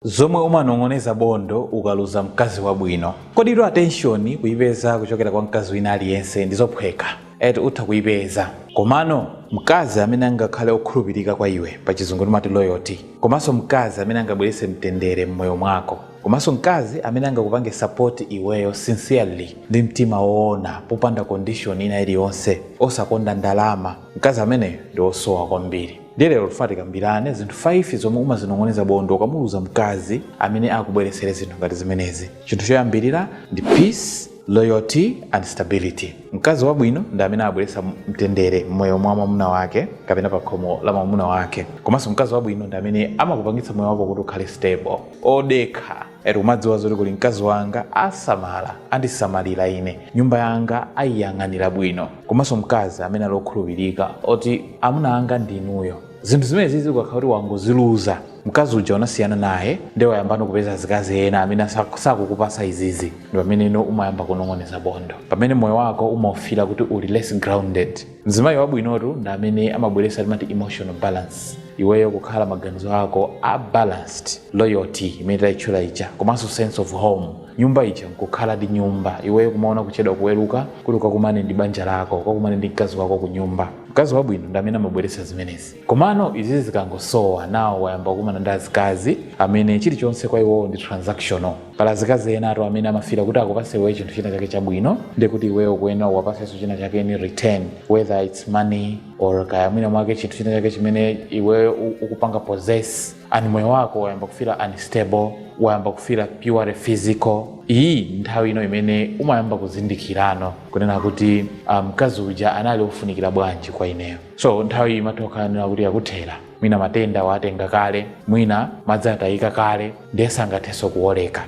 Zomwe umanong'oneza bondo ukaluza mkazi wabwino. Koditu attention kuipeza kuchokera kwa mkazi wina aliyense ndizophweka. Eti utha kuipeza. Komano mkazi amene angakhale okhulupirika kwa iwe, pachizungu timati loyalty, komanso mkazi amene angabweretse mtendere mmoyo mwako, komanso mkazi amene angakupange support iweyo sincerely ndi mtima woona popanda condition ina iliyonse, osakonda ndalama, mkazi ameneyo ndi osowa kwambiri. Ndiye lero tifuna tikambirane zinthu 5 zomwe umazinong'oneza bondo ukamuluza mkazi amene akubweretsere zinthu ngati zimenezi. Chinthu choyambirira ndi peace, loyalty and stability. Mkazi wabwino ndi amene abweretsa mtendere m'moyo mwa mwamuna wake kapena pa khomo la mwamuna wake. Komanso mkazi wabwino ndi amene amakupangitsa moyo wako kuti ukhale stable, odekha. eti kumadziwa zoti kuli mkazi wanga asamala andisamalira ine nyumba yanga ayiyang'anira bwino komanso mkazi amene ali okhulupirika oti amuna anga ndi inuyo zinthu zimene zizi ukakhala kuti wangoziluza mkazi uja unasiyana naye ndiye wayambano kupeza azikazi ena amene sak- sakukupasa izizi ndi pamene ino umayamba kunong'oneza bondo pamene moyo wako umaufila kuti uli less grounded mzimayi wabwinotu ndi amene amabweretsa timati emotional balance iweyo kukhala maganizo ako a balanced loyalty imene tayitchula ija komanso sense of home nyumba ija nkukhala ndi nyumba iweyo kumaona kuchedwa kuweruka kuti ukakumane ndi banja lako ukakumane ndi mkazi wako ku nyumba mkazi wabwino ndi amene amabweretsa zimenezi Komano izizi zikangosowa nawo wayamba kukumana ndi azikazi amene chilichonse kwa iwowo ndi transactional. Pali azikazi enatu amene amafila kuti akupase iweyo chinthu china chake chabwino nde kuti iweyo ukuyenera uwapasenso china chake in return whether its money or kaya mwina mwake chinthu china chake chimene iweyo u- ukupanga possess and moyo wako wayamba kufila unstable wayamba kufila purely physical iyi ndi nthawi ino imene umayamba kuzindikirano kunena kuti ah, mkazi uja anali ofunikira bwanji kwa ineyo so nthawi imatha kukhala kuti yakuthera mwina matenda watenga kale mwina madzi atayika kale ndiye sangathenso kuoleka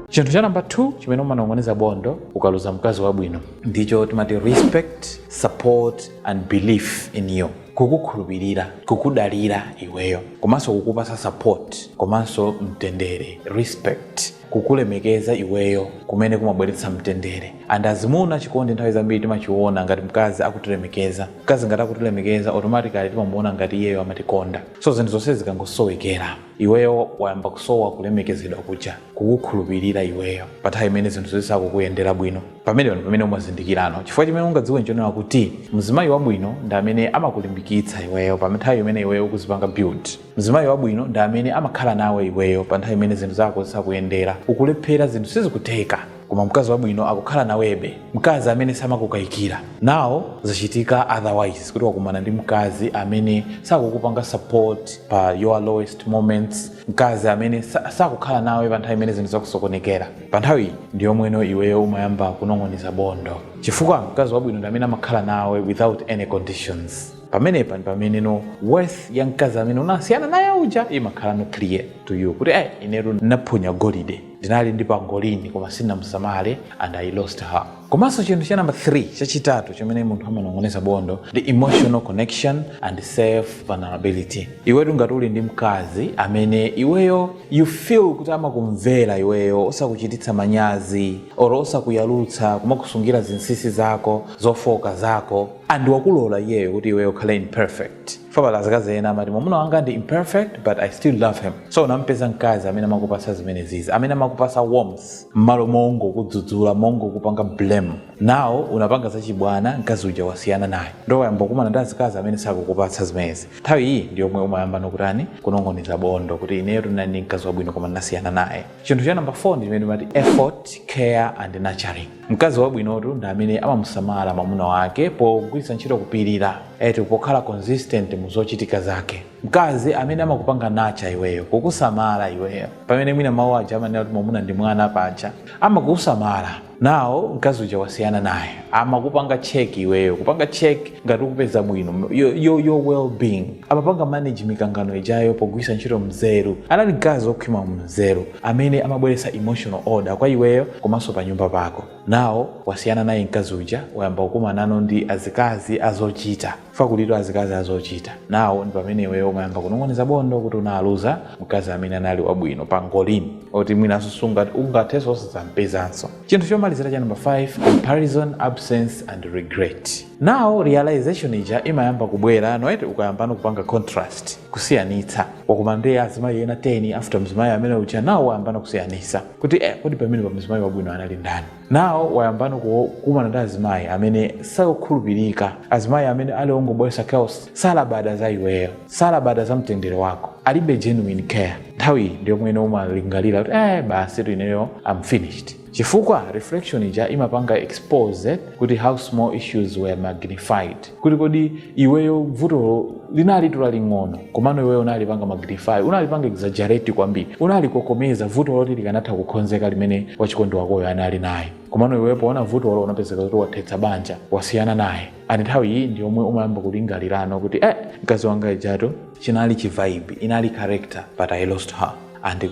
chinthu cha namba 2 chimene umanong'oneza bondo ukaluza mkazi wabwino ndicho timati respect support and belief in you kukukhulupirira kukudalira iweyo komanso kukupasa support komanso mtendere respect kukulemekeza iweyo kumene kumabweretsa mtendere and azimuna chikondi nthawi zambiri timachiona ngati mkazi akutilemekeza mkazi ngati akutilemekeza automatically timamuona ngati iyeyo amatikonda so zinthu zonse zikangosowekera iweyo wayamba kusowa kulemekezedwa kuja kukukhulupirira iweyo pa nthawi imene zinthu zisakukuyendera bwino pamenepo mpamene umazindikirano chifukwa chimene ungadziwe nchonena kuti mzimayi wabwino ndi amene amakulimbikitsa iweyo pa nthawi imene iweyo ukuzipanga build mzimayi wabwino ndi amene amakhala nawe iweyo pa nthawi imene zinthu zako zisakuyendera ukulephera zinthu sizikutheka koma mkazi wabwino akukhala nawebe mkazi amene samakukayikira now zachitika otherwise kuti wakumana ndi mkazi amene sakukupanga support pa your lowest moments mkazi amene sa- sakukhala nawe pa nthawi imene zinthu zakusokonekera pa nthawi ndi yomweno iweyo umayamba kunong'oneza bondo chifukwa mkazi wabwino ndi amene amakhala nawe without any conditions pamenepa ndi pameneno worth ya mkazi amene unasiyana naye uja imakhalano clear to you kuti eh inetu ndinaphonya golide ndinali ndi pangolini koma sindinamusamale and i lost her komanso chinthu cha namba 3 chachitatu chimene munthu amanong'oneza bondo ndi emotional connection and self vulnerability iwetu ngati uli ndi mkazi amene iweyo you feel kuti amakumvera iweyo osakuchititsa manyazi or osakuyalutsa kumakusungira zinsinsi zako zofooka zako and wakulola iyeyo kuti iweyo ukhale imperfect fa pali azikazi ena amati mwamuna wanga ndi imperfect but i still love him so unampeza mkazi amene amakupasa zimenezizi amene amakupasa warmth mmalo mongokudzudzula mongokupanga blame now unapanga zachibwana mkazi uja wasiyana naye ndo wayamba kukumana ndi azikazi amene sakukupatsa zimenezi nthawi iyi ndi yomwe umayambano kutani kunong'oneza bondo kuti ineyo ndinali ndi mkazi wabwino koma ndinasiyana naye chinthu cha namba 4 ndi chimene timati effort care and nurturing mkazi wabwinotu ndi amene amamusamala mwamuna wake pogwiritsa ntchito kupirira eti pokhala consistent mu zochitika zake mkazi amene amakupanga nacha iweyo kukusamala iweyo pamene mwina mawu aja amanena kuti mwamuna ndi mwana paja amakusamala now mkazi uja wasiyana naye amakupanga check iweyo kupanga check ngati ukupeza bwino your, your, your well being amapanga manage mikangano ijayo pogwiritsa ntchito mzeru anali mkazi okhwima mu mzeru amene amabweretsa emotional order kwa iweyo komanso pa nyumba pako. Now wasiyana naye mkazi uja wayamba kukumanano ndi azikazi azochita. Chifukwa kulitu azikazi azochita. Now ndi pamene iweyo umayamba kunong'oneza bondo kuti unaluza mkazi amene anali wabwino pangolini oti mwinanso sungat ungathenso osadzampezanso. Chinthu chomalizira cha number 5 comparison, absence and regret. now realization ija imayamba kubwera no eti ukayambano kupanga contrast kusiyanitsa wakumana ndi azimayi ena 10 after mzimayi amene uja now wayambano kusiyanitsa kuti eh, kodi pamenepa mzimayi wabwino anali ndani now wayambano kukumana ndi azimayi amene sakukhulupirika azimayi amene ali ongobwesa chaos salabada za iweyo salabada za mtendere wako alibe genuine care nthawi iyi ndiyomweno umalingalira kuti eh, basitu ineyo am finished chifukwa reflection ija imapanga expose kuti how small issues were magnified kuti kodi iweyo vutolo linalitu laling'ono komano iweyo unalipanga magnify unalipanga exaggerate kwambiri unalikokomeza vutolo loti likanatha kukhonzeka limene wachikondi wakoyo anali naye komano iweyo poona vutolo unapezeka kuti wathetsa banja wasiyana naye and nthawi iyi ndi yomwe umayamba kulingalirano kuti eh mkazi wanga ujatu chinali chivibe inali character but i lost her and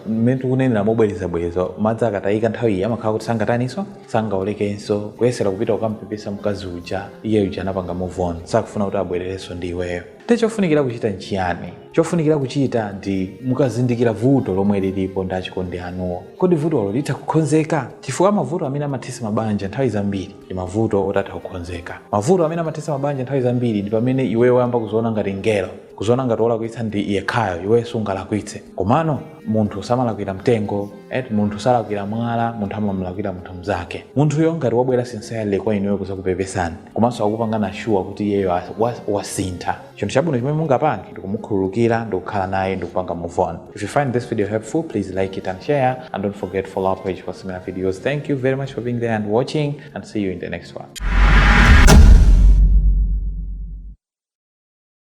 mmene tikunenera mobwerezabwereza madzi akatayika nthawi iyi amakhala kuti sangataniso sangaolekenso kuyesera kupita kukampepesa mkazi uja iye uja anapanga move on sakufuna kuti abwererenso ndi iweyo eti chofunikira kuchita nchiyani chofunikira kuchita ndi mukazindikira vuto lomwe lilipo ndi achikondi anuwo kodi vutolo litha kukhonzeka chifukwa mavuto amene amathesa mabanja nthawi zambiri ndi mavuto otatha kukhonzeka mavuto amene amathesa mabanja nthawi zambiri ndi pamene iweyo wayamba kuziona ngati ngelo kuziona ngati wolakwitsa ndi yekhayo iwe sungalakwitse komano munthu samalakwira mtengo eti munthu salakwira mwala munthu amamlakwira munthu mzake munthuyo ngati wabwera sincerely kwa inuyo kuzakupepesani komanso akupangani assure kuti iyeyo as- wa- wasintha chinthu chabwino chimene mungapange ndikumukhululukira ndikukhala naye ndikupanga move on if you find this video helpful please like it and share and don't forget to follow our page for similar videos thank you very much for being there and watching and see you in the next one